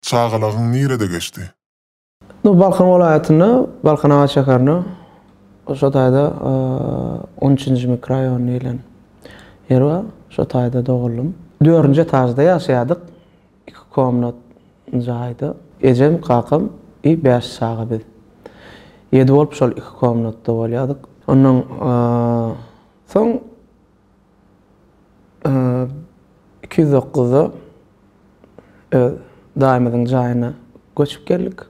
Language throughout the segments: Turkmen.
Çagalygyň nirede geçdi? Bu Balkan welaýatynda, Balkanabat şäherinde, şo taýda on üçünji mikroýon diýlen ýer bar. Şo taýda doguldym. Dördünji etažda ýaşaýardyk. Iki komnat jaýda. Ejem, kakam i bäş çaga biz. Ýedi bolup şol iki komnatda bolýardyk. Ondan soň. iki ýüz dokuzda öz daýymyzyň jaýyna göçüp geldik.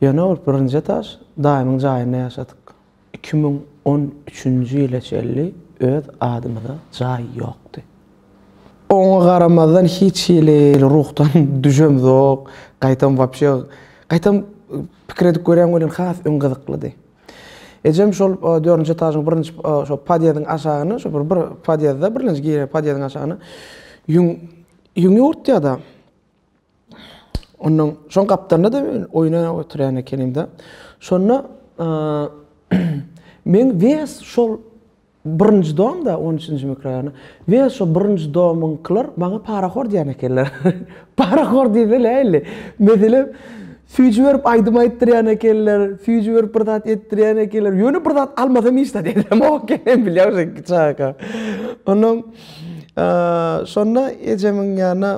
Ýöne ol birinji etaş daýymyň jaýynda ýaşadyk. Iki müň on üçünji ýyla çenli öz adymyza jaý ýokdy. Oňa garamazdan hiç hili ruhdan düşemzok, gaýtam wapşe, gaýtam pikir edip görýän welin has öň gyzyklydy. Ejem şol dördünji etažyň birinji şo podýezdiň aşagyny, şo bir podýezde, birinji giren podýezdiň aşagyny ýüň ýüňi urtýada. Ondan şoň gapdalynda da oýna oturýan ekenim-de. Şonda men wes şol Birinji dom-da, on üçünji mikroraýony. We şo birinji domyňkylar maňa parahor diýen ekenler. Parahor diýse nähili? Meselem, süýji berip aýdym aýtdyrýan ekenler, süýji berip bir zat etdirýän ekenler. Ýöne bir zat almasam hiç zat edemok eken men bilýäň şo iki çaga. Onnoň şonda ejemiň ýanyna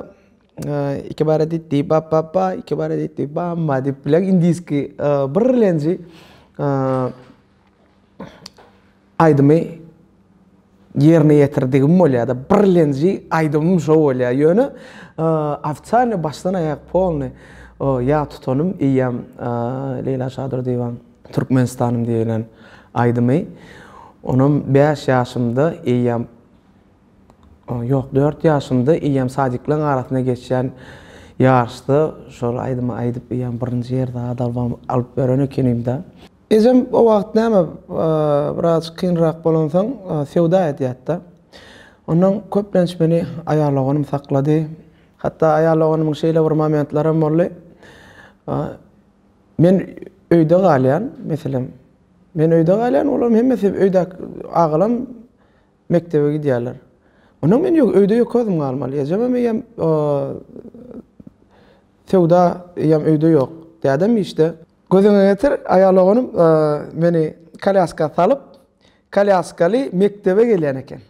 iki bara ditti bap bap ba, iki bara ditti bam ba diýip bilýäň indiski birlenji aýdymy ýerine ýetirdigim bolýar-da, birlenji aýdymym şo bolýar. Ýöne ofitsialny başdan aýak polny ýa tutanym eýýäm Leýla Şadyr diwan Türkmenistanym diýlen aýdymy onam bäş ýaşymda eýýäm ýok dört ýaşymda eýýäm sadiklaryň arasynda geçýän ýaryşda şol aýdymy aýdyp eýýäm birinji ýerde zat alyp beren ekenim-de. Ejem o wagt näme, biraz kynrak bolansoň söwda edýärdi-de. Ondan köplenç meni aýal doganym saklady. Hatda aýal doganymyň şeýle bir momentlary hem boldy. Men öýde galýan, meselem, men öýde galýan, olaryň hemmesi öýdäki agalam mekdebe gidýärler. Ondan men öýde ýeke özüm galmaly. Ejem hem, eýem söwda, eýem öýde ýok. Dädem işde. Gözüňe getir, aýal oglum meni kolýaska salyp, kolýaskaly mekdebe gelýän eken.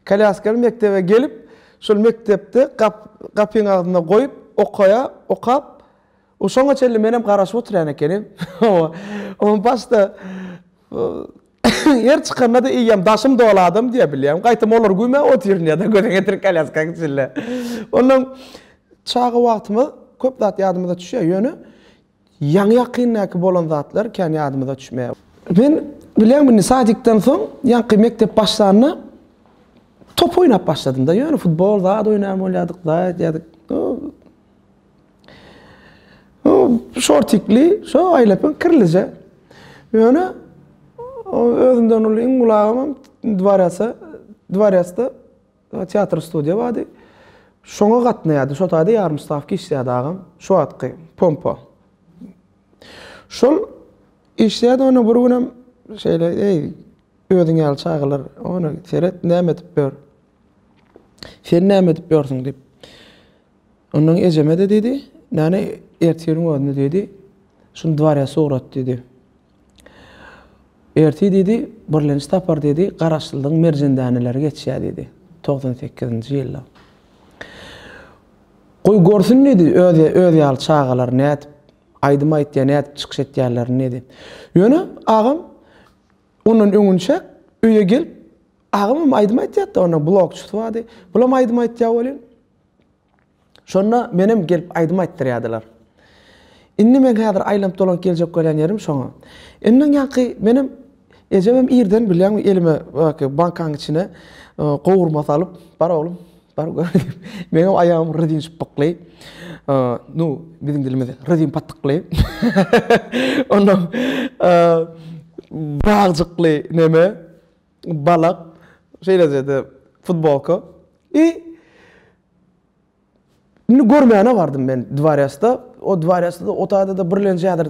Kolýaskaly mekdebe gelip, şol mekdepde gapyň agzynda goýup, okaýa, okap, şoňa çenli menem garaşyp oturýan ekenim. Oňa başda Her çykanda-da eýýäm daşym doly adam diýe bilýärin. Gaýtam olary güýmäp otyryn ýa-da göze getirip kolýaskaň içinde. Ondan çaga wagtymyz köp zat ýadymyza düşýär, ýöne ýaňy-ýakyndaky bolan zatlar kän ýadymyza düşmeýär. Men bilýäňmi, indi sadikden soň ýaňky mekdep başlanda top oýnap başladym-da, ýöne futbol zat oýnaýan bolýardyk, daýat ýadyk. O şortikli, şo aýlapyn kirlije. Ýöne özümden uly iň ulagym dwarasa, dwarasda teatr studiýa bardy. Şoňa gatnaýardy. Şo taýda ýarym stavka işleýärdi agam. Şo wagtky pompa. Şol işleýärdi, onda bir günem şeýle, eý, özüň ýaly çagalar, ony seret, näme edip ýör? Sen näme edip ýörsüň diýip. Ondan ejeme-de diýdi, Näne, ertiriň özüni diýdi, şuny dwarýasa ugrat diýdi. Ertir diýdi, birlenç tapar diýdi, Garaşsyzlygyň merjen däneleri geçýär diýdi, togsan sekizinji ýylda. Goý görsün diýdi, özi, özi ýaly çagalar nädip aýdym aýtýar, nädip çykyş etýärlerini diýdi. Ýöne agam ondan öňünçäk öýe gelip, Agamam aýdym aýtýardy, onuň blogçysy bardy. Bulam aýdym aýtýar welin, Şonda menem gelip aýdym aýtdyrýardylar. Indi meň häzir aýlanyp-dolanyp geljek bolýan ýerim şoňa. Ondan ýaňky menem ejemem irden bilýäňmi elime baki bankanyň içine gowurma salyp, bar oglum, bar gör diýip, meňem aýagymy rezin şypbykly, nu, biziň dilimizde rezin patykly, ondan bagjykly neme, Balak, şeýleje-de futbolka. I Indi görmäne bardym men dworýasda. O dworýasda-da otagda-da birlenjedir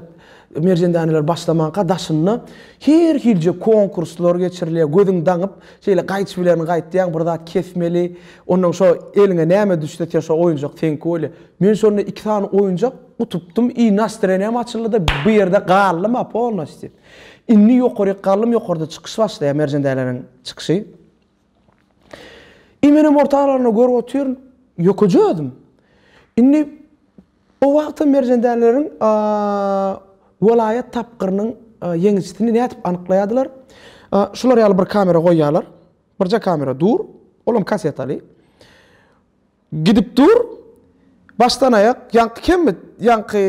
merjendäneler başlamanka daşynda her hilje konkurslar geçirilýär. Gözüň daňyp, şeýle gaýçy bilen gaýtýaň, bir zat kesmeli. Onnoň şo eliňe näme düşse, sen şo oýunjak seňki bolýar. Men şonda iki sany oýunjak utupdym i nastreniýam açyldy-da, bu ýerde galdym-a polnosti. Indi ýokaryk gallym ýokarda çykyş başlaýar Merjen däleniň çykyşy. I menem orta aralygyna görüp otyryn, ýokaja özüm. Indi o wagtam Merjen däleleriň welaýat tapgyrynyň ýeňijisini nädip anyklaýardylar? Şular ýaly bir kamera goýýarlar. Birje kamera dur, olam kasetaly. Gidip dur, başdan aýak ýaňky kemmi, ýaňky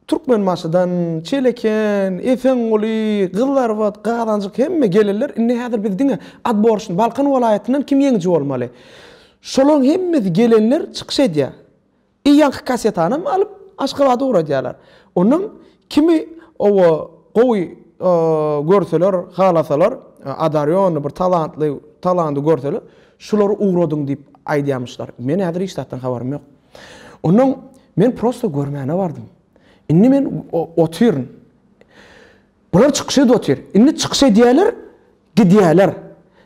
Türkmenbaşydan, Çeleken, Esenguly, Gyzlarbat, Gazanjyk hemme gelenler indi häzir biz diňe adborşni Balkan welaýatyndan kim ýeňiji bolmaly. Şolaň hemmesi gelenler çykyş edýär. I ýaňky kasetanam alyp Aşgabada ugradýarlar. Ondan Kimi oba gowy görseler, halasalar, adaryony, bir talantly, talandy görseler, şulary ugradyň diýip aýdýarmyşlar. Men häzir hiç zatdan habarym ýok. Onnoň men prosto görmäne bardym. Indi men otyryn. Bular çykyş edip otyr. Indi çykyş edýärler, gidýärler.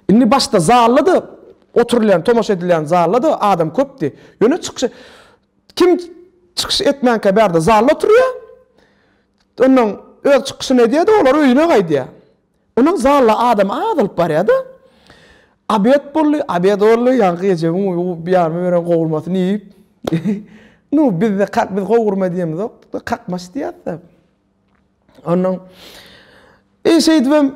Indi başda zalda-da, oturylýan, tomaşa edilýän zalda-da adam köpdi. Ýöne çykyş Kim çykyş etmänkä bärde zalda oturýar. Onnoň öz çykyşyny edýär-de, olar öýüne gaýdýar. Onnoň zalda adam azalyp barýar-da. Abed boldy, abed boldy, ýaňky Rejebiň biýarmy beren gowurmasyny iýip. Nu, bizde kak, biz gowurma diýemizok, kakmaç diýýäs-dä. Ondan e şeýdibem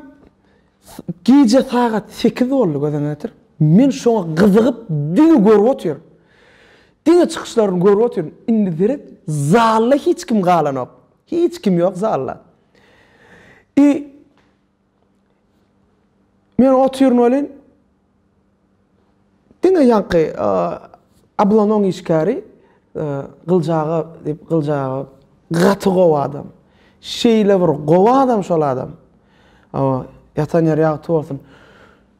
gije sagat 8 boldy gözüňe getir. Men şoňa gyzygyp diňe görüp otyryn. Diňe çykyşlaryny görüp otyryn. Indi seret, zalda hiç kim galanok. Hiç kim ýok zalda. I Men otyryn welin, diňe ýaňky Ablonyň işgäri Gylyç aga diýip, Gylyç aga gaty gowy adam. Şeýle bir gowy adam şol adam. Hawa, ýatan ýeri ýagty bolsun.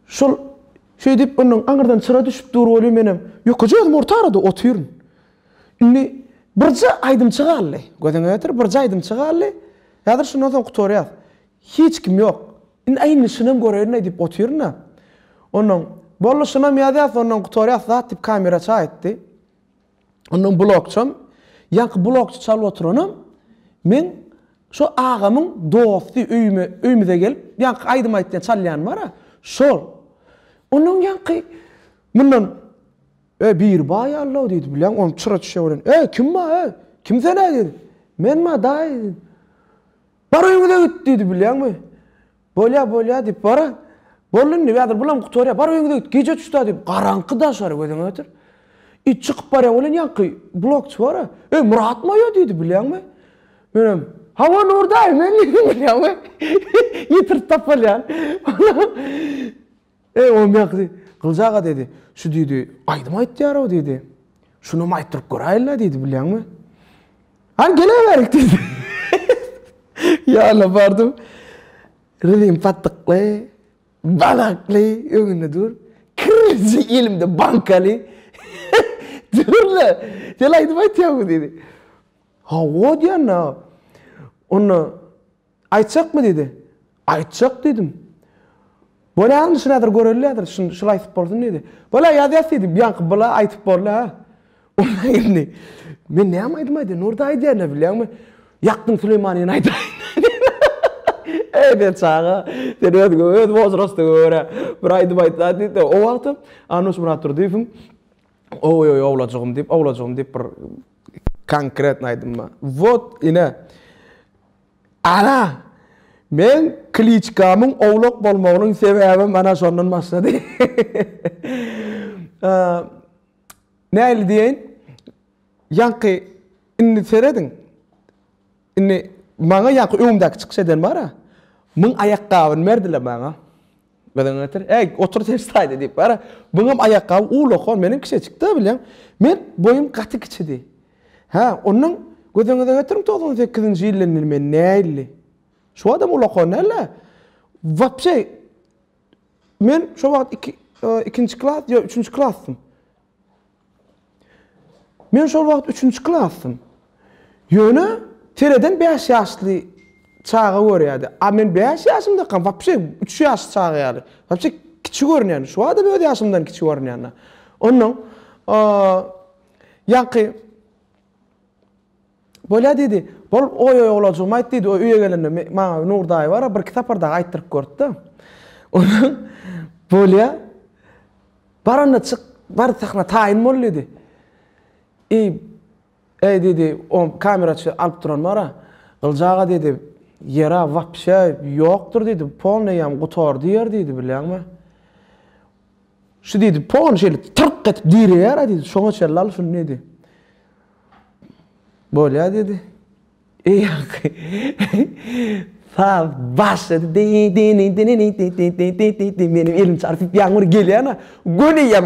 Şol şeýdip indi aňyrdan çyra düşüp dur welin menem ýokaja özüm orta arada otyryn. Indi birje aýdymçy galdy. Gözüňe ýetir, birje aýdymçy galdy. Häzir şundan soň gutarýas. Hiç kim ýok. Indi aýnysynam görerin-aý diýip otyryn-a. Onnoň, Boluşynam ýazýas, onnoň gutarýas zat diýip kameraçy aýtdy. Onnoň blokçam, ýaňky blokçy çalyp oturanam meň şo agamyň dosty, öýüme, öýümize gelip, ýaňky aýdym aýtýan, çalýan bar-a, şol. Onnoň ýaňky mundan, Ä, biri bar ýaly-law diýdi, bilýän, onuň çyra-çüçe bolan. Äý, kim ba, äý? Kim sen-ä? diýdi. Menm-ä, daýy, diýdim. Bar öýňüze git! diýdi, bilýäňmi? Bolýa, bolýa, diýip, baran. Boldy indi, häzir bulam gutarýar. Bar öýňüze git, gije çyş-da, diýip, garaňky daşary gözüňe getir. It çykyp barýan welin ýaňky blokçy bar-a, Eý, Myrat moýa! diýdi, bilýäňmi? Menem, Hawa, Nur daýy, men diýdim, bilýäňmi? Ýitirip tapalýan. Eý, Omýakdy, Gylyç aga, diýdi, şu, diýdi, aýdym aýtýar-ow, diýdi. Şunam aýtdyryp göräýeli-le, diýdi, bilýäňmi? Hany, geleberik, diýdi. Ýanyna bardym. Rüzim patykly, badakly öňünde dur. Kirriji elimde bankaly. Dur-le, sen aýdym aýtýaňmy, diýdi. Hawa, diýen-de. Onda Aýtjakmy? diýdi. Aýtjak diýdim. Bolýaryn, şunadyr görelidir, şul aýtyp bolsun diýdi. Bol-a, ýazýas diýdim. Ýaňky bol-a aýtyp boldy-a. Onda indi men näme aýdym aýdaýyn? Nurda aýdýan-a, bilýäňmi? Ýakdyň Süleýmanyny aýdaýyn. Eý, sen çaga, sen özüňe, öz wozrostyňa görä bir aýdym aýtsaň diýdi-de, o wagtam Anuş Myratdurdyýewiň Oý-oý, owlajygym diýip, owlajygym diýip bir konkretny aýdym bar. Wot, ine. Ana, meň Kliçkamyň owlak bolmagynyň sebäbem ana şondan başlady. Nähili diýeýin, ýaňky indi serediň, indi maňa ýaňky öňümdäki çykyş eden bar-a, müň aýakgabyny berdiler maňa. Gyzyň getir. Äý, otur ters taýda diýip bar-a. Buňam aýakgaby uwlakon, meniň kiçejik-dä bileň. Men boýum gaty kiçidi. Hä, onnoň gözüňize getiriň togsan sekizinji ýylda indi men näilli. Şu wagtam uwlakon däl-ä. Wapşe, men şo wagt iki, ikinji klas ýa üçünji klasdym. Men şol wagt üçünji klasdym. Ýöne tereden bäş ýaşly çaga görýärdi. A men bäş ýaşymdakam wapşe üç ýaşly çaga ýaly. Wapşe kiçi görünýän. Şu wagtam öz ýaşymdan kiçi görünýän-de. Onnoň ýaňky Bolýa diýdi. Bol, goý oglajygym aýt diýdi. Öýe gelende maňa Nur daýy bar-a, birki sapar dagy aýtdyryp görüpdi. Onsoň, Bolýa, bar onda çyk, bar sahna taýyn bol diýdi. Eý, eý diýdi, o kameraçy alyp duran bar-a. Gylyç aga diýdi, ýer-ä wapşe ýokdur diýdi, polnoýam gutardy ýer diýdi, bilýäňmi? Şu diýdi, pon şeýle tyrk edip direýär-ä diýdi. Şoňa çenli al şuny diýdi. Bolýar diýdi. Eý ýaňky. Saz başlady. Meniň elim çarpyp ýaňyr gelýän-ä. Göneýem.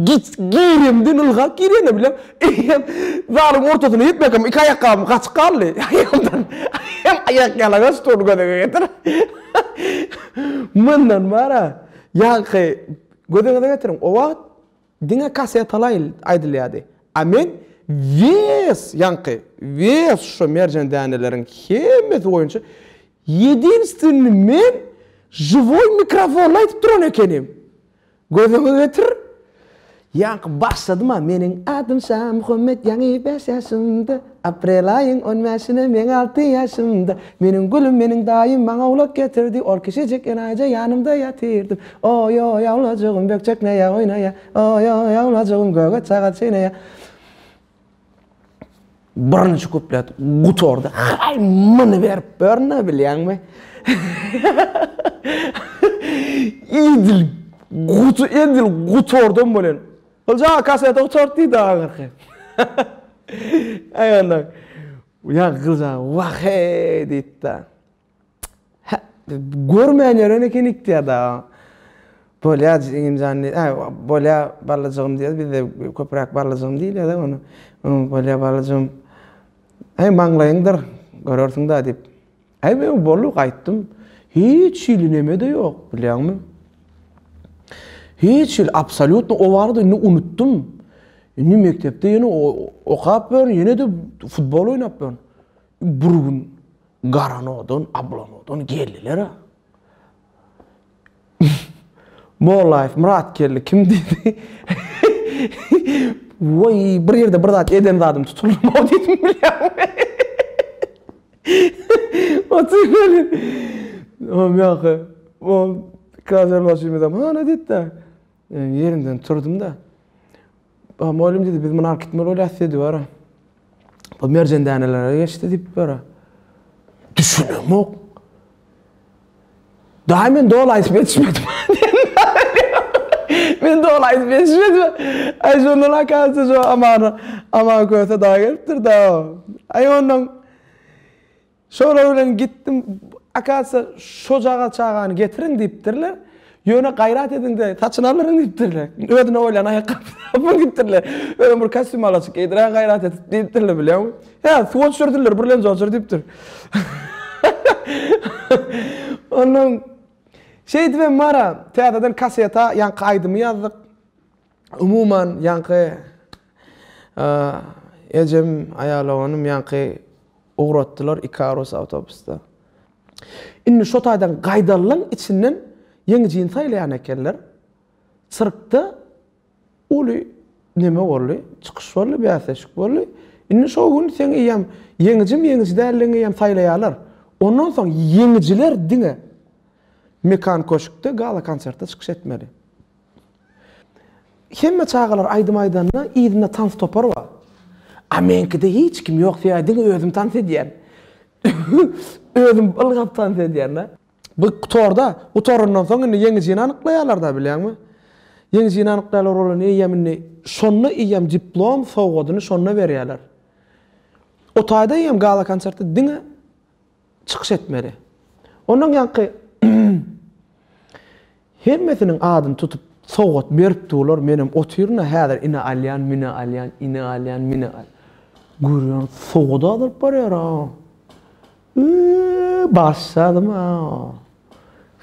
Git giremden ylgap girýän-ä bilem. Eýýäm zalyň ortasyna ýetmekem iki aýakgabym gaçyk galdy. Aýagymdan aýak ýalaňaç stol gödege getir. Mundan bar-a. Ýaňky gözüňize getiriň, o wagt diňe kasetaly aýdylýardy. A men wes, ýaňky wes şo merjen däneleriň hemmesi boýunça ýedinstwenni men žiwoý mikrofonly aýdyp duran ekenim. Gözüňe getir, Ýaňky başladym-a Meniň adym Şamuhammet Ýaňy bäş ýaşymda Aprel aýyň on bäşine Meň alty ýaşymda Meniň gülüm Meniň daýym Maňa ulak getirdi Ol kiçijik enaýyja Ýanymda ýatyrdym Oý-oý awlajygym Bökjek näýe oýnaýa Oý-oý awlajygym Göge çaga çeýneýä Birinji kuplet gutardy. Haý, muny berip börne bilýäňmi? Edil gutu edil gutardam bolan. Olja kaseti gutart diýdi ahyrky. Aý onda. Ýa gyza wah-eý diýdi. Görmän ýören eken ikdiada. Bolýa jigimjan diýdi. Hä, bolýa balajygym diýýär. Bizde köpräk balajygym diýilýär-de ony. Bolýa balajygym. Äý, maňlaýyňdyr, görersiň-dä diýip. Äý, men boldy, gaýtdym. Hiç hili neme-de ýok, bilýäňmi? Hiç hili, absolýutno o barada indi unutdym. Indi mekdepde ýene okap ýörün, ýene-de futbol oýnap ýörün. Bir gün Garanodan, Ablanodan geldiler-ä. Mollaýew Myrat geldi, kim diýdi. Woý, bir ýerde bir zat eden zadym tutuldy-ow diýdim, bilýäňmi. Otur weli. Ýok, ýok. Ol krazer maşynymyzam hany diýdi-de. Men ýerimden turdum-da. A mugallym diýdi, biz muny alyp gitmeli bolýas diýdi bara. Bu merjen dänelere geçdi diýip bara. Düşünemok. Daýy men doly aýdyp ýetişmedim. Men doly aýdyp ýetişmedim. Aý şondan akasy şu amana, aman köse daýy gelipdir-da. Aý ondan Şolar bilen gitdim, akasiýa şojagaz çagany getiriň diýipdirler. Ýöne gaýrat ediň-de, saçyny aldyryň diýipdirler. Özüne bolýan aýakgapy tapyň diýipdirler. Özem bir kostýum alaçyk geýdiräň gaýrat edip diýipdirler bilýäňmi. Hä, suwa düşürdiler, birlenji otur diýipdir. Onnoň şeýdibem Mara täzeden kaseta, ýaňky aýdymy ýazdyk. Umuman, ýaňky ejem, aýaloganym ýaňky ugratdylar Ikarus awtobusda. Indi şo taýdan gaýdalylaň içinden ýeňi jyn saýlaýan ekenler. Sirkde uly neme boldy, çykyş boldy, bäsleşik boldy. Indi şo gün seň eýýäm ýeňijim, ýeňiji däldigiňi eýýäm saýlaýarlar. Ondan soň ýeňijiler diňe Mekan köşkde gala-konserte çykyş etmeli. Hemme çagalar aýdym aýdanda yzynda tans topary bar. A meňkide hiç kim ýok sebäbi diňe özüm tans edýän. Özüm ylgap tans edýän-de. Bu torda gutarandan soň indi ýeňijini anyklaýarlar-da bilýäňmi. Ýeňijini anyklaýarlar olar eýýäm indi şonda eýýäm diplom sowgadyny şonda berýärler. O taýda eýýäm gala-konsertde diňe çykyş etmeli. Ondan ýaňky hemmesiniň adyny tutup sowgat berip durlar, menem otyryn-a häzir ine alýan, mine alýan, ine alýan, mine al. Görýän sowgat azalyp barýar-a. Yy, başladym-a.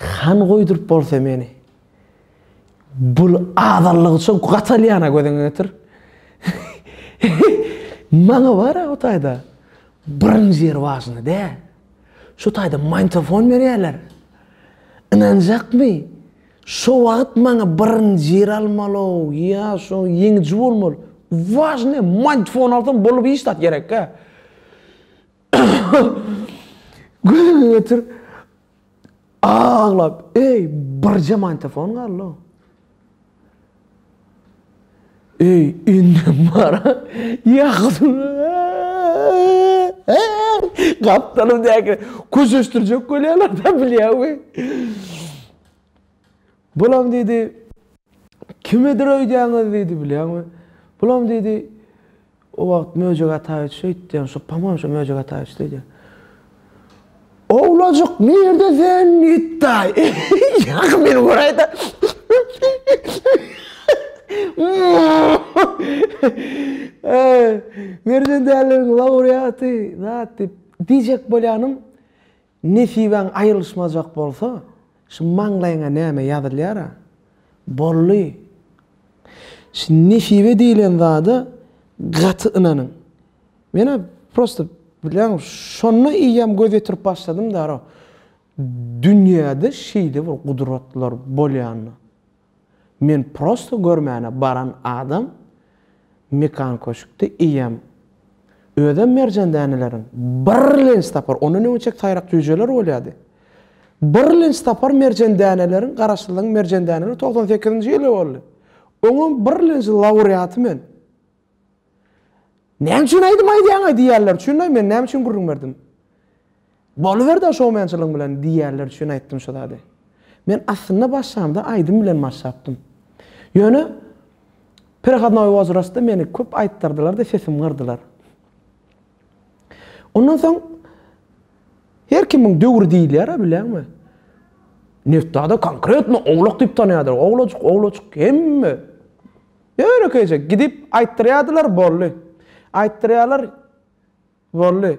Han goýduryp bolsa meni. Bul azallygy üçin gatalýana gözüňi getir. Maňa bar o taýda. Birinji ýer wažny dä. Şu taýda mantofon berýärler. Ynanjakmy? Şu wagt maňa birinji ýer almaly, ýa şu ýeňiji bolmaly. Wažny mantofon alsam bolup iş zat gerekkä. Gözüňi getir. Aglap, Eý, birje mantefon galdy-ow. Eý, indem bar-a. Gapdalymdaky köşeşdirjek bolýarlar-da, bilýäňmi? Bulam diýdi, Kimidir öýdýäňiz diýdi, bilýäňmi? Bulam diýdi, O wagt Möjek Ataýewiç öýtdýän, şu, po-moýem, şu Möjek Ataýewiç öýdýän. Owlajyk nirde sen, Nitdaý? Ýa-ha, meni göräý-dä. Merjen däliniň laureaty, zat diýip, diýjek bolýanym, Nesibäň aýrylyşmajak bolsa, şu maňlaýyňa näme ýazylýar-a? Boldy! Şu nesibe diýlen zada gaty ynanyň. Men-ä prosta, bilýäňmi, şonda eýýäm göz ýetirip başladym-da, aro, dünýäde şeýle bir gudratlar bolýanyna. Men prosto görmäne baran adam Mekan köşkde eýýäm özem merjen däneleriň birlenç tapar, ondan öň içek taýrak jüýjeler bolýardy. Birlenç tapar merjen däneleriň Garaşsyzlygyň merjen däneleri togsan sekizinji ýyly boldy. Oňam birlenç laureaty men. Näme üçin aýdym aýdýaňaý diýýärler üçin-aý men näme üçin gürrüň berdim. Boluberdi-ä şoumençiligiň bilen diýýärler üçin aýtdym şu zady. Men aslynda başlamda aýdym bilen başlapdym. Ýöne Perehodnoý wozrastda meni köp aýtdyrdylar-da sesim gyrdylar. Ondan soň her kimiň döwri diýilýär-ä bilýäňmi? Netda-da konkretno owlak diýip tanýardylar. Owlajyk, owlajyk hemme. Ýönekeýje gidip aýtdyrýardylar, boldy. Aýtdyrýarlar, boldy.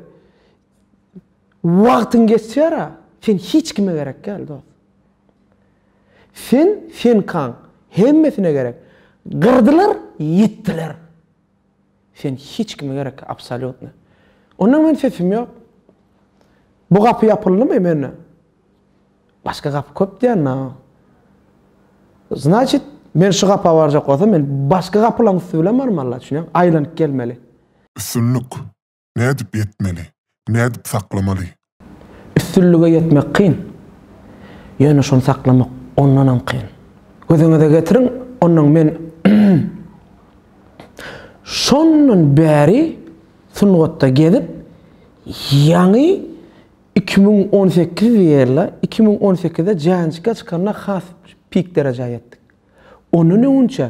Wagtyň geçýär-ä, sen hiç kime gerek däl, dost. Sen, senkaň hemmesine gerek. Gyrdylar, ýitdiler. Sen hiç kime gerek absolýutno. Onda men sesim ýok. Bu gapy ýapyldymy mende? Başga gapy köp diýenna. Znaçit men şu gapa barjak bolsam men başga gapylaň üsti bilen barmalyda düşünýäň aýlanyp gelmeli. Üstünlik nädip ýetmeli nädip saklamaly Üstünlige ýetmek kyn, ýöne şony saklamak ondanam kyn. Gözüňize getiriň, onnoň men şondan bäri sungatda gezip, ýaňy iki müň on sekiz ýyl, iki müň on sekizde Janjika çykanda has pik derejä ýetdik. Ondan öňünçä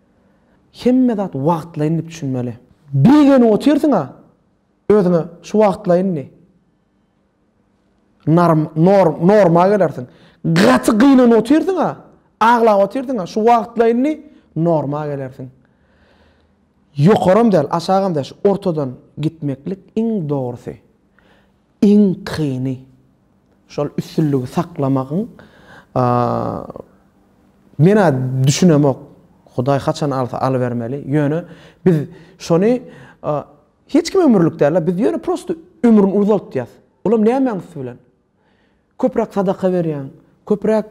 Hemme zat wagtlaýyn diýip düşünmeli. Begenip otyrsyň-a özüňe şu wagtlaýyn diýip. Narm, nor, norma gelersiň. Gaty gynanyp otyrsyň-a, aglap otyrsyň-a şu wagtlaýyn diýip, norma gelersiň. Ýokaram däl, aşagam däl, şu ortadan gitmeklik iň dogrusy. Iň kyny, şol üstünligi saklamagyň men-ä düşünemok. Hudaý haçan alsa alybermeli. Ýöne biz şony hiç kim ömürlik däl-ä, biz ýöne prosto ömrüni uzaltýas. Olam nämäň üsti bilen? Köpräk sadaka berýäň, köpräk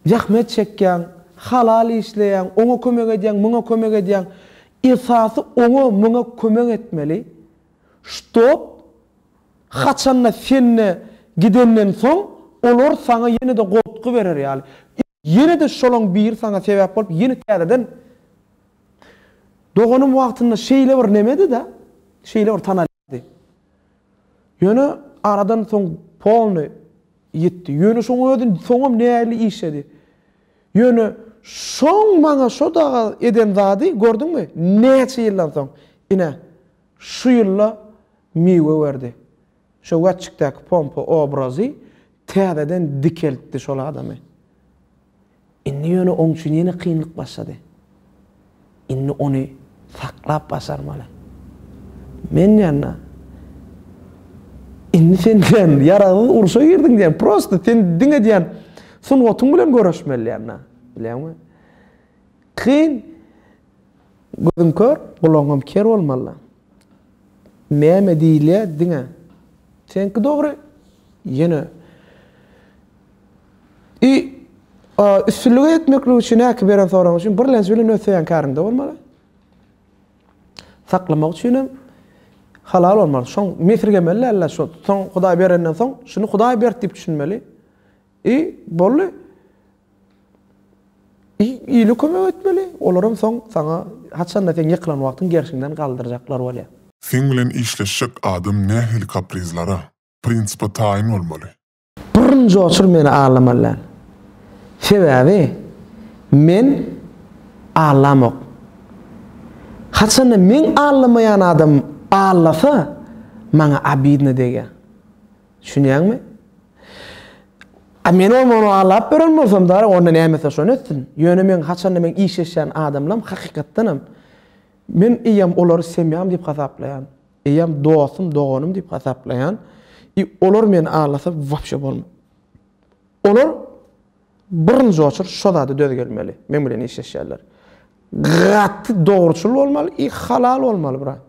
zähmet çekýäň, halal işleýäň, oňa kömek edýäň, muňa kömek edýäň. Esasy oňa, muňa kömek etmeli. Ştob haçanda sende gidenden soň olar saňa ýene-de goltgy berer ýaly. Ýene-de şolaň biri saňa sebäp bolup ýene täzeden Doganym wagtynda şeýle bir nemedi-de, şeýle bir tanal. ýatdy. Ýöne aradan soň polny ýitdi. Ýöne şoň özi soňam nägile işledi. Ýöne şoň maňa şo dagy eden zady, gördüňmi, näçe ýyldan soň, ine, şu ýylda miwe berdi. Şo Wätçikdäki pompa obrazy täzeden dikeltdi şol adamy. Indi ýöne oň üçin ýene kynlyk başlady. Indi ony saklap başarmaly. Men ýa-da Indi sen diýen ýaragsyz urşa girdiň diýen. Prosta sen diňe diýen sungatyň bilen göreşmeli diýen-dä. Bilýäňmi? Kyn. Gözüň kör, gulagyňam ker bolmaly. Näme diýilýä diňe. Seňki dogry. Ýene I üstünlige ýetmeklik üçin häki beren soragyň üçin birlenç bilen öz söýen käriňde bolmaly. Saklamak üçin hem halal bolmaly. Şoň mesirgemeli däldiler. Şo soň Hudaý berenden soň şuny Hudaý berdi diýip düşünmeli. I, boldy. I, ile kömek etmeli. Olaram soň saňa haçanda seň ýykylan wagtyň gerşiňden galdyrjaklar bolýar. Seň bilen işleşjek adam nähili kaprizlara, prinsipe taýyn bolmaly? Burun joşur meni aldamaly däl. Sebäbi men aldamok. Haçanda meň aldamaýan adamym aldasa, maňa obidno degýär. Düşünýäňmi? A men oňa ony aglap beren bolsam dara onda nämese şony etsin. Ýöne meň haçanda meň işleşýän adamlam hakykatdanam men eýýäm olary semýam diýip hasaplaýan. Eýýäm dostum, doganym diýip hasaplaýan. I olar meni aglasa wapşe bolma. Olar birinji oçur şo zada döz gelmeli. Men bilen işleşýänler. Gaty dogruçyl bolmaly i halal bolmaly brat.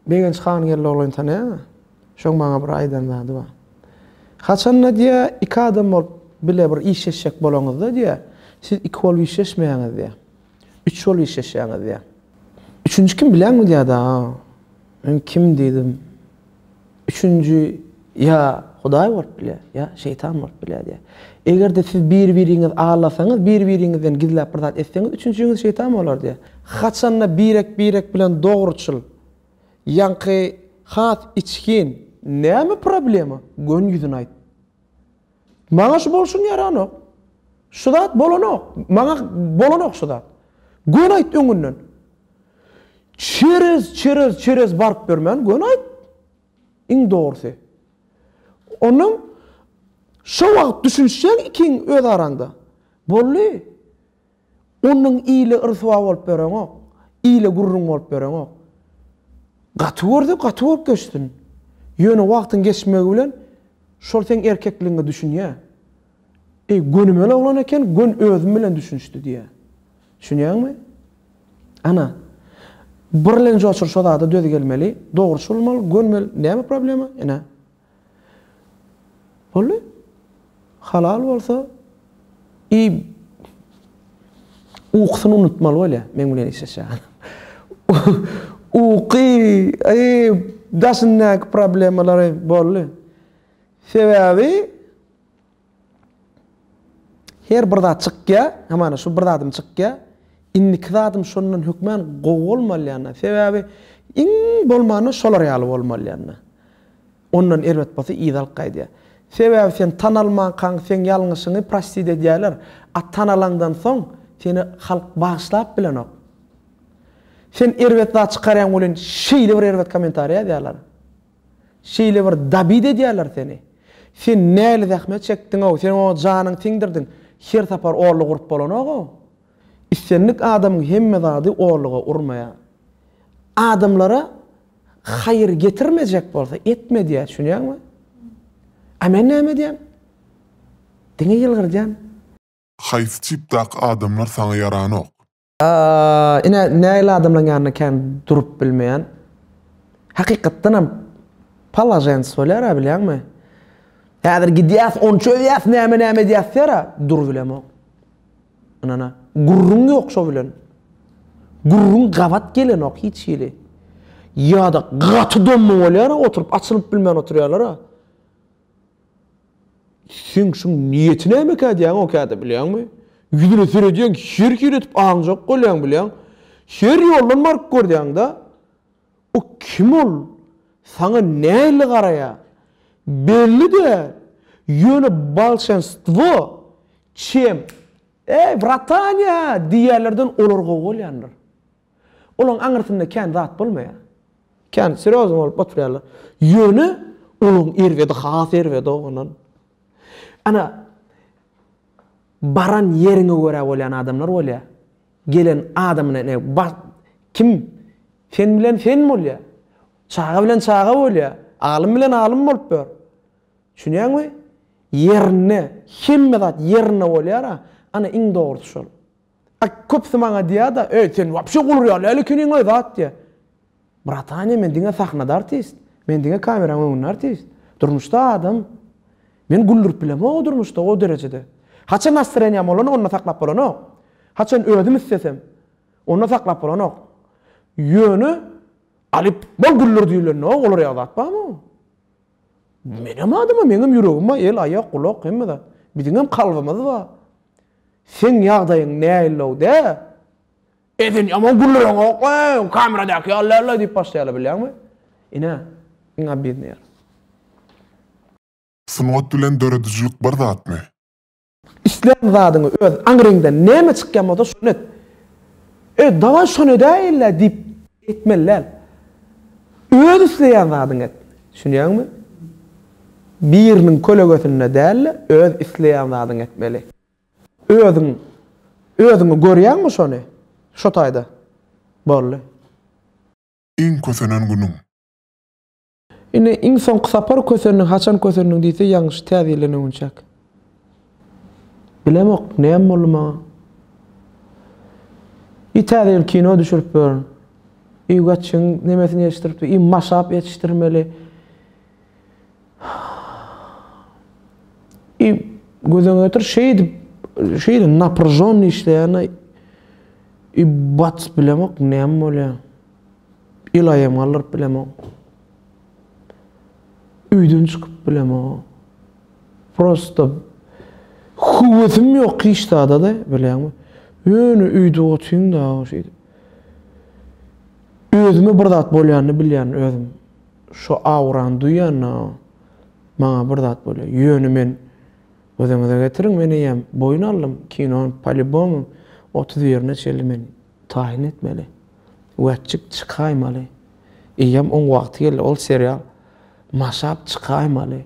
Begenç han Geldioglyny tanaýaňmy? Şoň maňa bir aýdan zady bar. Haçan-da diýýä, iki adam bolup bile bir işleşjek bolaňyzda diýýä, siz iki bolup işleşmeýäňiz diýýä. Üç bolup işleşýäňiz diýýä. Üçünji kim bilýäňmi diýýä daga. Men kim diýdim. Üçünji, ýa Hudaý bolup biler, ýa şeýtan bolup biler diýýär. Eger-de siz bir-biriňizi aldasaňyz, bir-biriňizden gizläp bir zat etseňiz, üçünjiňiz şeýtan bolar diýýär. Haçan-da birek-birek bilen dogruçyl, ýaňky has içgin, näme problema, göni ýüzüni aýt. Maňa şu bolşuň ýaranok. Şu zat bolanok. Maňa bolanok şu zat. Göni aýt öňünden. Çerez, çerez, çerez baryp bermän göni aýt. Iň dogrusy. Onuň şo wagt düşünişýäň ikiň öz araňda. Boldy. Onuň ile ryswa bolup ýöreňok, ile gürrüň bolup ýöreňok. Gaty görse gaty bolup geçsin. Ýöne wagtyň geçmegi bilen şol seň erkekligiňe düşünýär. Eý, gönümel oglan eken, gön özüm bilen düşünişdi diýýär. Düşünýäňmi? Ana, birlenjoçur şo zada döz gelmeli, dogruçy bolmaly, gönmeli, näme problema? Ine. Boldy. Halal bolsa i ukusyny unutmaly bolýa meň bilen işleşýän adam. Uky i daşyndaky problemalary boldy. Sebäbi Her bir zat çykýa, hamana şu bir zadym çykýa. Indiki zadym şondan hökman gowy bolmalýanda, sebäbi iň bolmanda şolar ýaly bolmalýanda. Ondan erbet bolsa yza alyp gaýdýa. Sebäbi sen tanalmankaň seň ýalňyşyňy prostit edýäler, a tanalaňdan soň seni halk bagyşlap bilenok. Sen erbet zat çykarýaň welin şeýle bir erbet kommentariýa ýazýalar. Şeýle bir dabit edýärler seni. Sen näli zähmet çekdiň-ow, sen oňa janyňy siňdirdiň, her sapar orluk urup bolanok-ow. Islendik adamyň hemme zady orluga urmaýar. Adamlara haýyr getirmejek bolsa, etme diýýär, düşünýäňmi? A men näme edýän? Diňe ýylgyrdýan. Haýsy tipdaky adamlar saňa ýaranok? Ine, nägile adamlaryň ýanynda kän durup bilmeýän. Hakykatdanam palažens bolýar-a, bilýäňmi? Häzir gidýäs, ony çözýäs, näme-näme edýäs diýer-ä, dur bilemok. Ynana, gürrüň ýok şo bilen. Gürrüň gabat gelenok hiç hili. Ýa-da gaty domma bolýar-a oturyp, açylyp bilmän oturýarlar-a. Seň şuň niýeti nämekä diýýäň okäde bilýäňmi? Ýüzüne seredýäň her hiledip aňjak bolýaň bilýäň. Her ýoldan baryp görýäňdä. O kim ol? Saňa nähili garaýa? Belli däl. Ýöne bolşenstwo çem Eý, bratanya! diýýänlerden olar gowy bolýandyr. Olaň aňyrsynda kän zat bolmaýar. Kän serýozny bolup oturýarlar. Ýöne olaň erbedi has erbedi-ow ondan. Ana, baran ýeriňe görä bolýan adamlar bolýar. Gelen adamyna ine bas, kim sen bilen sen bolýar. Çaga bilen çaga bolýar. Alym bilen alym bolup ýör. Düşünýäňmi? Ýerinde, hemme zat ýerinde bolýar-a. Ana, iň dogrusy şol. A köpsi maňa diýýär-de, Eý, sen wapşe guly real däl ekeniň we zat diýýär. Bratanyýa, men diňe sahnada artist. Men diňe kameraň öňünde artist. Durmuşda adam. Men güldürip bilemog-a durmuşda o derejede. Haçan nastreniýam bolanda onda saklap bolanok. Haçan özüm islesem, onda saklap bolanok. Ýöne Alyp, bol güldir diýilende-ow ol real zat barmy? Menem adam-a, meňem ýüregim bar, el, aýak, gulak, hemme zat. Biziňem kalbymyz bar. Seň ýagdaýyň näillow dä? Eden ýaman gürlereňok we kameradaky ýaly dälä diýip başlaýarlar bilýäňmi? Ine, iň obidnyý ýeri. Sungat bilen döredijilik bir zatmy? Islän zadyňy öz aňryňdan näme çykýan bolsa şony et. E, dawaý şony edäýeli-le diýip Etmeli däl. Öz isleýän zadyňy et. Düşünýäňmi? Biriniň kölegesinde däl-de, öz isleýän zadyňy etmeli. Özüň, özüňi görýäňmi şony? Şo taýda. Boldy. Iň kösenen günüň. Ine, iň soňky sapar kösendiň, haçan kösendiň diýse, ýaňyş täze ýyldan öňünçäk. Bilemok, näme boldy maňa. I täze ýyl kino düşürip ýörün. I Wetçiň nemesini ýetişdiripdi, i maşap ýetişdirmeli. I gözüňe getir, şeýdip, şeýle napryžonny işleýän-a. I bac, bilemok, näme bolýa. Ylaýam galdyryp bilemok. Üýden çykyp bilemok. Prosta höwesim ýok hiç zada-da, bilýäňmi? Ýöne üýde otyň dagy şeýdip. Özüme bir zat bolýanyny bilýän özüm. Şu aurany duýýan dagy maňa bir zat bolýar. Ýöne men gözüňize getiriň, men eýýäm boýun aldym. Kinonyň polýubomy otuz birine çenli men Taýyn etmeli. Wetjik çykaýmaly. Eýýäm oň wagty geldi. Ol serial maşap çykaýmaly.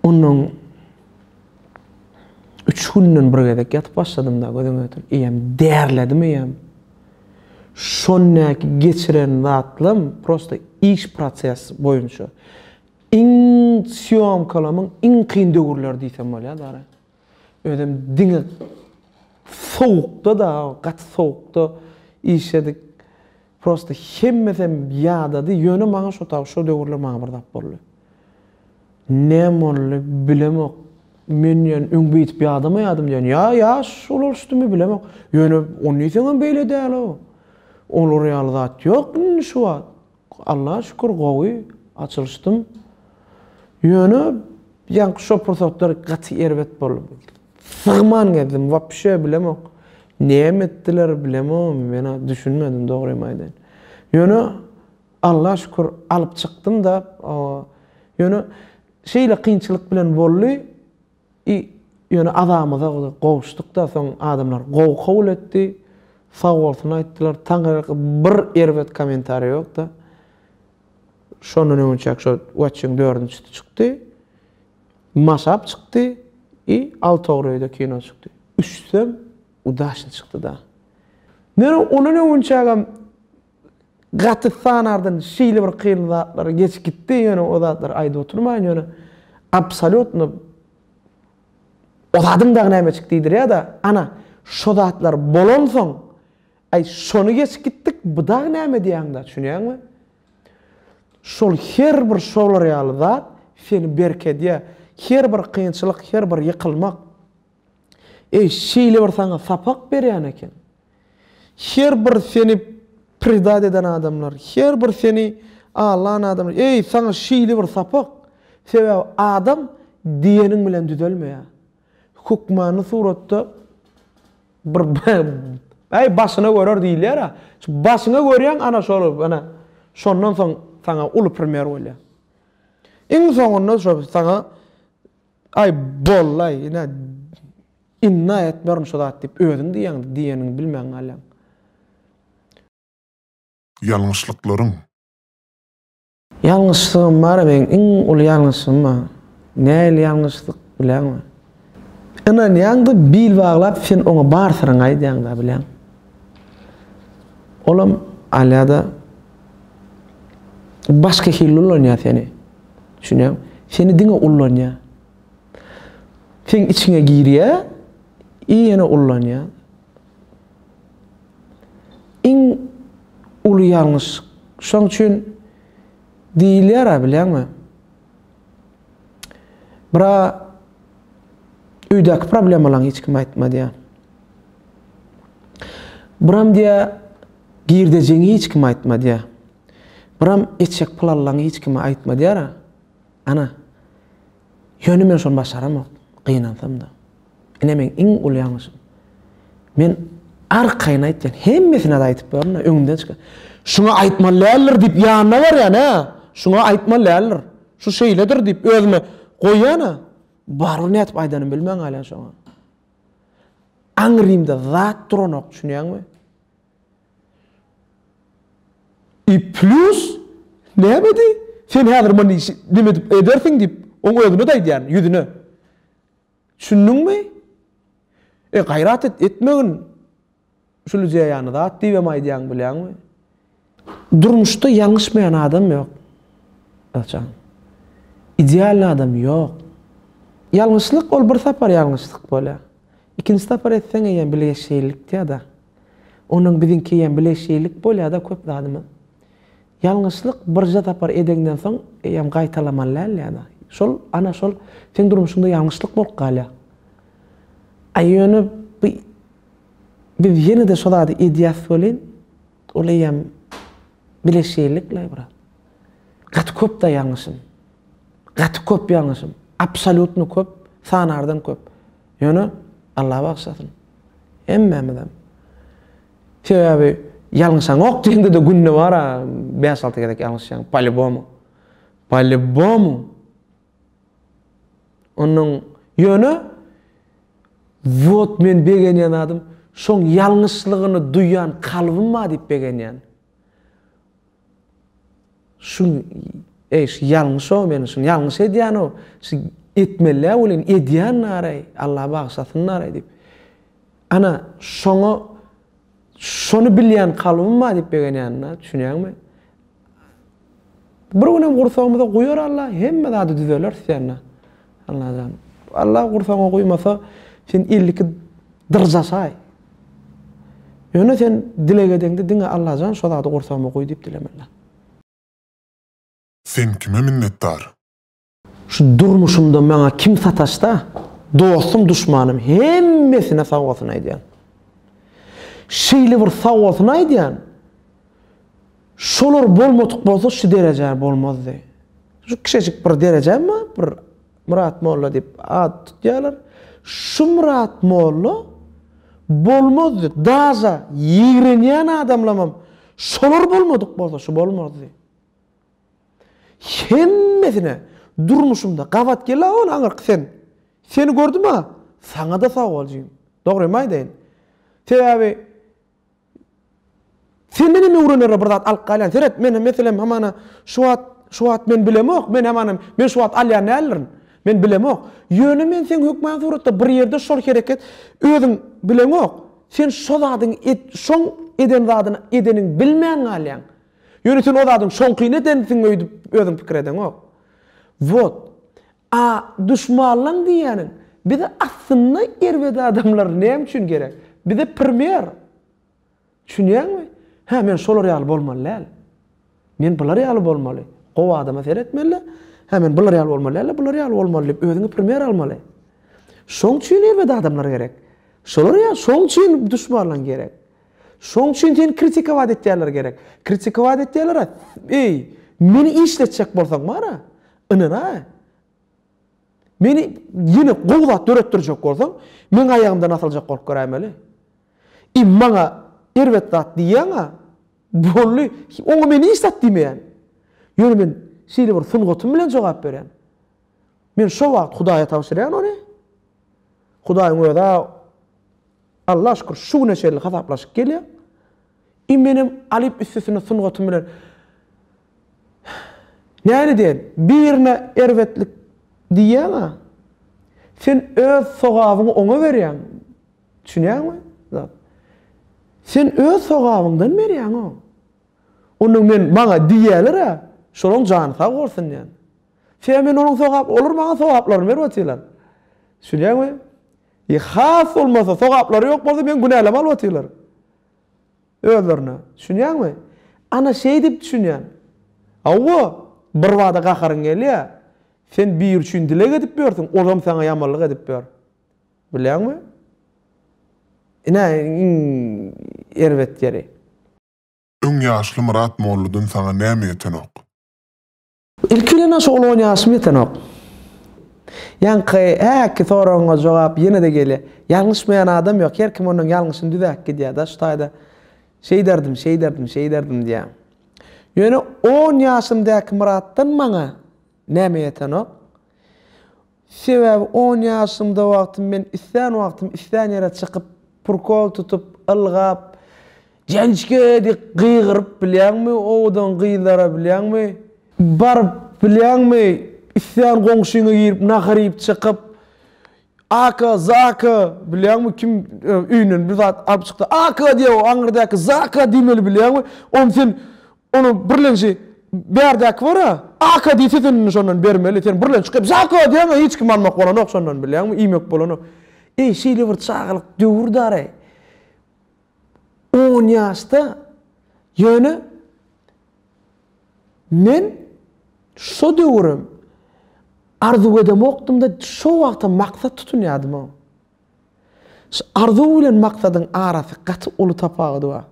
Ondan üç günden bir gezek ýatyp başladym da gözüň ötün. Eýýäm därledim eýýäm. Şondaky geçiren zatlam prosta iş proses boýunça. Iň sýomkalamyň iň kyn döwürleri diýsem bolýar dara. Özem diňe sowukda dagy gaty sowukda işledik. Prosta hemmesem ýadady, ýöne maňa şo taw şo döwürler maňa bir zat boldy. Näme boldy, bilemok. Men diýen öň beýdip ýadamaýadym diýen. Ýa ýaş ulalşdymy bilemok. Ýöne ony diýseňem beýle däl-ow. Olar ýaly zat ýok indi şu wagt. Allaha şükür gowy açylyşdym. Ýöne ýaňky şo pursatlar gaty erbet boldy. Sygman gezdim wapşe bilemok. Näme etdiler bilemogym mena düşünmedim dogrymy aýdaýyn. Ýöne Allaha şükür alyp çykdym-da. Ýöne şeýle kynçylyk bilen boldy. I ýöne azamyza gowuşdyk-da, soň adamlar gowy kabul etdi, sagbolsun aýtdylar. Taňryýalka bir erbet kommentariý ýok-da. Şondan öňe çek şo Watching dördünjisi çykdy. Mashup çykdy i Altowr öýde kino çykdy. Üçüsem udaçny çykdy-da. Men ondan öňünçägem Gaty sanardan şeýle bir kyn zatlar geçip gitdi ýöne o zatlary aýdyp oturmaýyn ýöne absolýutno o zadyň dagy nämeçik diýdirýada ana şo zatlar bolansoň aý şony geçip gitdik bu dagy näme diýäňda düşünýäňmi şol her bir şolar ýaly zat seni berkedýä her bir kynçylyk her bir ýykylmak Eý, şeýle bir saňa sapak berýän eken. Her bir seni predat eden adamlar, her bir seni aldan adamlar, eý, saňa şeýle bir sapak! Sebäbi adam diýeniň bilen düzelmeýär. Hökmany suratda bir Äý, başyna görer diýilýär-ä. Şu başyňa görýäň, ana şol, ana, şondan soň saňa uly primer bolýar. Iň soňunda şo saňa Aý, bollaý, ine, indi-aý etmerin şo zat diýip, özüň diýýäňdi, diýeniňi bilmän galýaň. Ýalňyşlyklaryň. Ýalňyşlygym bar-a meň, iň uly ýalňyşlygym bar. Nähili ýalňyşlyk bilýäňmi? Ynanýaň-da, bil baglap, sen oňa bar syryňy aýdýaň-da, bilýäň. Olam, Alýa-da, başga hili ulanýar seni. Düşünýäň? Seni diňe ullanýar. Seň içiňe girýär i ýene ullanýar. Iň uly ýalňyşlyk. Şoň üçin diýilýär-ä bilýäňmi? Bra öýdäki problemalaň hiç kim aýtma diýýär. Bram diýýär, girdejiňi hiç kim aýtma diýýär. Biram eçek pul alanyňy hiç kime aýtma diýýär-ä. Ana, ýöne men şony başaramok, gynansam-da. Ine meň iň uly ýalňyşym. Men arkaýyn aýtýan, hemmesine-de aýtyp gördüm-de, öňümden çykan. Şuňa aýtmaly däldir diýip ýanyna barýan-a, şuňa aýtmaly däldir. Şu şeýledir diýip özüme goýýan-a. Barybir nädip aýdanymy bilmän galýan şoňa. Aňrymda zat duranok, düşünýäňmi? I plus nämedi? Sen häzir muny işi nim edip edersiň diýip, oň özüne-de aýdýan, ýüzüne. Düşündiňmi? E, gaýrat et, etmegin. Şulujä ýany zat diýibem aýdýaň, bilýäňmi? Durmuşda ýalňyşmaýan adam ýok, Özjan. Idealny adam ýok. Ýalňyşlyk ol bir sapar ýalňyşlyk bolýar. Ikinji sapar etseň eýýäm bilgeşeýlilikdi-ýa-da. Onuň biziňkigem bile şeýlik bolýada köp zadymyz. Ýalňyşlyk birje sapar edeňden soň eýýäm gaýtalamaly däl ýa-da. Şol ana şol seň durmuşyňda ýalňyşlyk bolup galýar. A ýöne bu biz ýene-de şo zady edýäs welin, ol eýýäm bile şeýlik laý brat. Gaty köp-da ýalňyşym. Gaty köp ýalňyşym. Absolýutno köp, sanardan köp. Ýöne, Alla bagyşlasyn, hemmämizem. Sebäbi ýalňyşaňok diýende-de günde bar-a bäş-alty gezek ýalňyşýaň, polýubomu. Polýubomu. Onuň, ýöne, wot men begenýän zadym, şoň ýalňyşlygyny duýan kalbym bar diýip begenýän. Şun eý şu ýalňyşow meni şun ýalňyş edýänow şu etmelä welin edýän nareý Allah bagyşlasyn nareý diýip ana şoňa şony bilýän kalbym bar diýip begenýänina düşünýäňmi bir günem gursagymyza guýar Allah hemme zady düzeler senä Allajan. Allah gursaňa guýmasa, sen elli iki dyrjasaý. Ýöne sen dileg edeňde diňe Allajan şo zady gursagyma guý diýip dilemeliň. Sen kime minnetdar? Şu durmuşymda maňa kim sataşsa, dostum duşmanym hemmesine sag bolsun aýdýan. Şeýle bir sag bolsun aýdýan, Şolar bolmadyk bolsa şu derejä bolmazdy. Şu kişejik bir derejäm bar, bir Myrat molla diýip at tutýarlar. Şu Myrat molla bolmazdy. Daža ýigrenýän adamlamam şolar bolmadyk bolsa şu bolmazdy. Hemmesine durmuşymda gabat gel-a ol aňyrky sen. Seni gördüm-a, saňa-da sag bol jigim. Dogrymy aýdaýyn. Sebäbi Senden hem öwrenere bir zat alyp galýan. Seret, men meselem hamana şu wagt, şu wagt men bilemok, men hamana, men şu wagt alýan däldirin. Men bilemok. Ýöne men seň hökman suratda bir ýerde şol hereket özüň bileňok. Sen şo zadyň et, şoň eden zadyny edeniň bilmän galýaň. Ýöne sen o zadyň şoňkyny edensiň öýdüp özüň pikir edeňok. Wot. A duşmanlaň diýýäniň bize aslynda erbet adamlar näme üçin gerek? Bize premýer. Düşünýäňmi? Hä men şolar ýaly bolmaly däl. Men bular ýaly bolmaly. Gowy adama seretmeli-de, hä men bular ýaly bolmaly däl-de, bular ýaly bolmaly diýip özüňe premýer almaly. Şoň üçin erbet adamlar gerek. Şolar ýaly şoň üçin duşmanlaň gerek. Şoň üçin seni kritikowaat etýänler gerek. Kritikowaat etýänler-ä, eý, meni işletjek bolsaň bar-a, Ynana, meni ýene gowy zat döretdirjek bolsaň, meň aýagymdan asyljak bolup göräýmeli. I maňa erbet zat diýýäň-ä, boldy, oňa men hiç zat diýmeýän. Ýöne men şeýle bir sungatym bilen jogap berýän. Men şo wagt Hudaýa tabşyrýan ony. Hudaýyň özi-ä Alla şükür şu güne çenli hasaplaşyp gelýär. I menem alyp üstesine sungatym bilen Näme diýen, birine erbetlik diýýäň-ä, sen öz sogabyňy oňa berýäň, düşünýäňmi? Zat. Sen öz sogabyňdan berýäň oň. Onda men maňa diýýäler-ä, şolaň jany sag bolsun diýän. Sebäbi men olaň sogap, olar maňa sogaplaryny berip otyrlar. Düşünýäňmi? Ýa has bolmasa, sogaplary ýok bolsa, meni günäleme alyp otyrlar. Özlerine. Düşünýäňmi? Ana, şeýdip düşünýän. Hawa, birbada gaharyň gelýär. Sen biri üçin dileg edip ýörsüň, olam saňa ýamanlyk edip ýör. Bilýäňmi? Ine, iň erbet ýeri. Öň ýaşly Myrat molladan saňa näme ýetenok? Ilki bilen aşa uly on ýaşym ýetenok. Ýaňky häki soragyňa jogap ýene-de gelýär. Ýalňyşmaýan adam ýok. Her kim onuň ýalňyşyny düzäp gidýär-de, şu taýda şeýderdim, şeýderdim, şeýderdim diýýär. Ýöne on ýaşymdaky Myratdan maňa näme ýetenok? Sebäbi on ýaşymda wagtym men islän wagtym islän ýere çykyp, prkol tutup, ylgap, Jançke! diýip gygyryp bilýäňmi, owadan gyzlara bilýäňmi, baryp bilýäňmi, islän goňşyňa girip nahar iýip çykyp, Aka, Zaka! bilýäňmi, kim öýünden bir zat alyp çyksa, Aka! diýýär, o aňyrdaky Zaka! diýmeli bilýäňmi, onuň sen Onuň birlenji bärdäki bor-a, Aka diýse sen indi şondan bermeli, sen birlenç çykyp Zako diýeňä hiç kim almak bolanok şondan bilýäňmi, iýmek bolanok. Eý, şeýle bir çagalyk döwürdi-araý. On ýaşda, ýöne men şo döwürem arzuw edemokdym-da, şo wagtam maksat tutunýardym-ow. Şu arzuw bilen maksadyň arasy gaty uly tapawudy bar.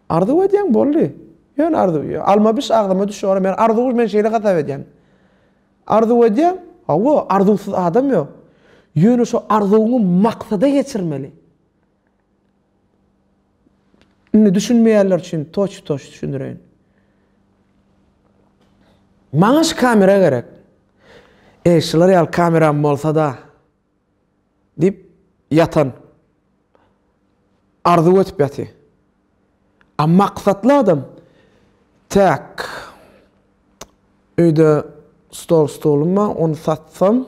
Arzuw edýäň boldy. Ýöne arzuw. Alma biş agzyma düşýär. Men arzuw men şeýle hasap edýän. Arzuw edýäň. Hawa, arzuwsyz adam ýok. Ýöne şu arzuwyňy maksada geçirmeli. Indi düşünmeýänler üçin toç-toç düşündireýin. Maňa şu kamera gerek. Eý, şular ýaly kameram bolsa-da diýip ýatan. Arzuw edip ýaty. A maksatly adam Täk, öýde stol-stolum bar, ony satsam,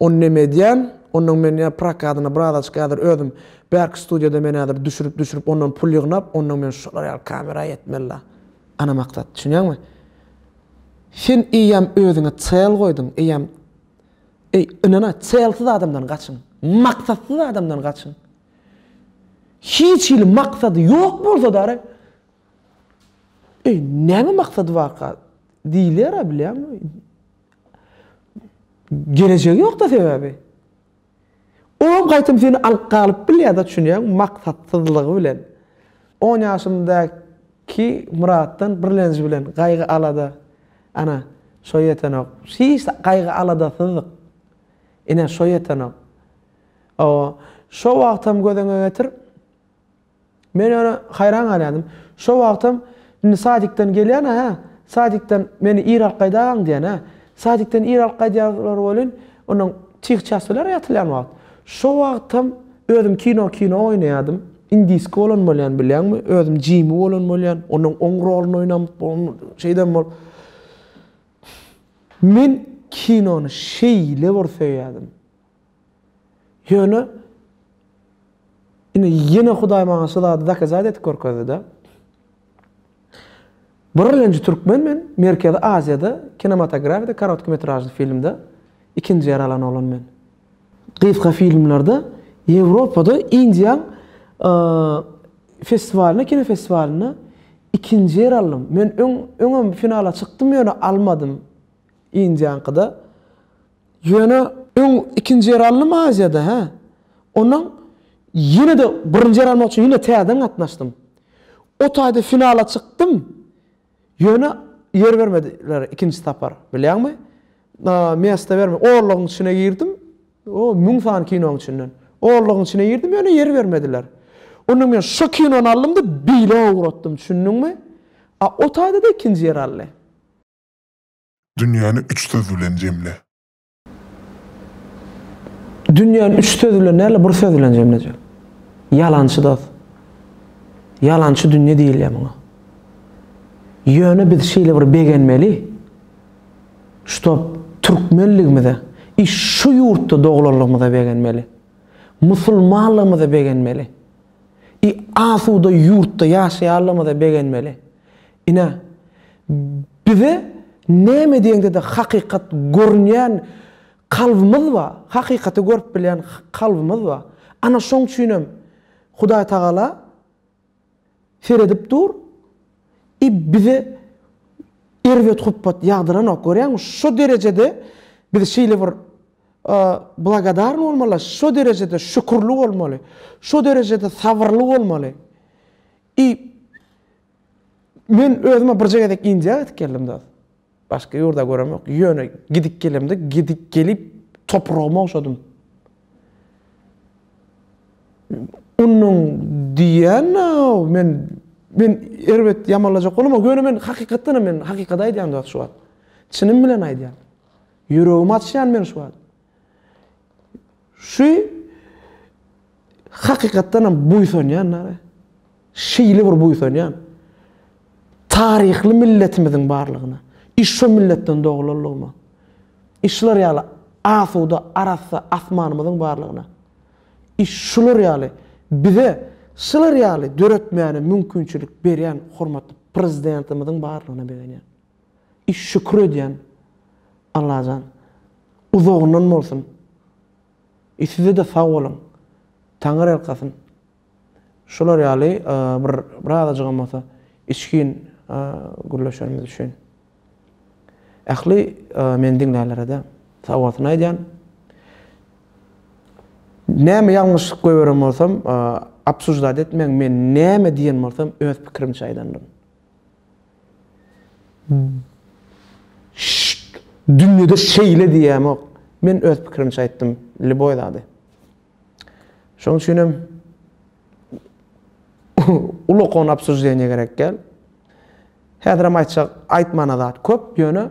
ony neme edýän, ondan men ýa prokadyna brazaçka häzir özüm bärki studiýada men häzir düşürip-düşürip, ondan pul ýygnap, ondan men şular ýaly kamera ýetmeli-la. Ana maksat, düşünýäňmi? Sen eýýäm özüňe çel goýduň, eýýäm, eý, ynana, çelsiz adamdan gaçyň, maksatsyz adamdan gaçyň. Hiç hili maksady ýok bolsa-da, Eý, näme maksady barka? diýilýär-ä, bilýäňmi? Gelejegi ýok-da sebäbi. Olam gaýtam seni alyp galyp bilýär-de, çünýäňmi, maksatsyzlygy bilen. On ýaşymdaky Myratdan birlenji bilen gaýgy-alada, ana, şo ýetenok. Hiç gaýgy-aladasyzdyk. Ine, şo ýetenok. Hawa, şo wagtam göz öňüňe getir. Men ýöne haýran galýardym. Şo wagtam Indi sadikden gelýän-ä, hä? Sadikden meni ir alyp gaýdagaň diýen, hä? Sadikden ir alyp gaýdýarlar welin, onnoň çih-çäs biler ýatylýan wagt. Şo wagtam özüm kino kino oýnaýardym. Indiski bolan bolýan, bilýäňmi? Özüm Jimi bolan bolýan. Onnoň oň roluny oýnap, şeýdem bolup. Men kinony şeýle bir söýýärdim. Ýöne indi ýene Hudaý maňa şu zady dokazat edip görkezdi-de. Birlenji türkmen men, Merkezi Aziýada kinematografida korotki metražly filmde ikinji ýer alan oglan men. Gysga filmlerde Ýewropada Indian festiwalynda kino festiwalynda ikinji ýer aldym. Men öň öňem finala çykdym ýöne almadym. Indiaňkyda. Ýöne öň ikinji ýer aldym Aziýada, hä. Ondan ýene-de birinji ýer almak üçin ýene täzeden gatnaşdym. O taýda finala çykdym. Ýöne ýer bermediler ikinji sapar, bilýäňmi? Mesta bermedi. Orlagyň içine girdim. O, müň sany kinoň içinden. Orlagyň içine girdim, ýöne ýer bermediler. Onda men şo kinony aldym-da, beýle ugratdym, düşündiňmi? A o taýda-da ikinji ýer aldy. Dünýäni üç söz bilen jemle. Dünýäni üç söz bilen däl-de, bir söz bilen jemlejek. Ýalançy dost. Ýalançy dünýe diýilýär muňa. Ýöne biz şeýle bir begenmeli, ştop türkmenligimize, i şu ýurtda doglanlygymyza begenmeli. Musulmanlygymyza begenmeli. I asuda ýurtda ýaşaýanlygymyza begenmeli. Ine, bize näme diýeňde-de hakykat görünýän kalbymyz bar, hakykaty görüp bilýän kalbymyz bar. Ana, şoň üçin hem Hudaý Tagala seredip dur i bize erbet hupbat ýagdyranok. Görýäňmi, şo derejede biz şeýle bir blagodarny bolmaly, şo derejede şükürli bolmaly, şo derejede sabyrly bolmaly i Men özüme birje gezek Indiýa gidip geldim dos. Başga ýurda görem ýok. Ýöne gidip gelemde gidip gelip topragyma ogşadym. Onuň diýen men men erbet ýamanlajak bolam, ýöne men hakykatdan hem men hakykat aýdýan dos şu wagt. Çynym bilen aýdýan. Ýüregimi açýan men şu wagt. Şu hakykatdan hem buýsanýan nara. Şeýle bir buýsanýan. Taryhly milletimiziň barlygyna. Iş şu milletden doglanlygyma. Işler ýaly asuda, arassa asmanymyzyň barlygyna. Iş şular ýaly bize şular ýaly döretmäne mümkinçilik berýän hormatly prezidentimiziň barlygyna begenýän. I şükür edýän Allajan uzagyndan bolsun I sizede sag boluň Taňyrýalkasyn şular ýaly bir bir azajygam bolsa içgin gürleşenimiz üçin Ähli meni diňlänlerede sag bolsun aýdýan Näme ýalňyşlyk goýberen bolsam obsuždat etmäň men näme diýen bolsam öz pikirimçe aýdandyryn. Şşşt! Dünýede şeýle diýemok. Men öz pikirimçe aýtdym, lýuboý zady. Şoň üçinem ulokony obsujdenýe gerek däl. Häzirem aýtjak, aýtmana zat köp, ýöne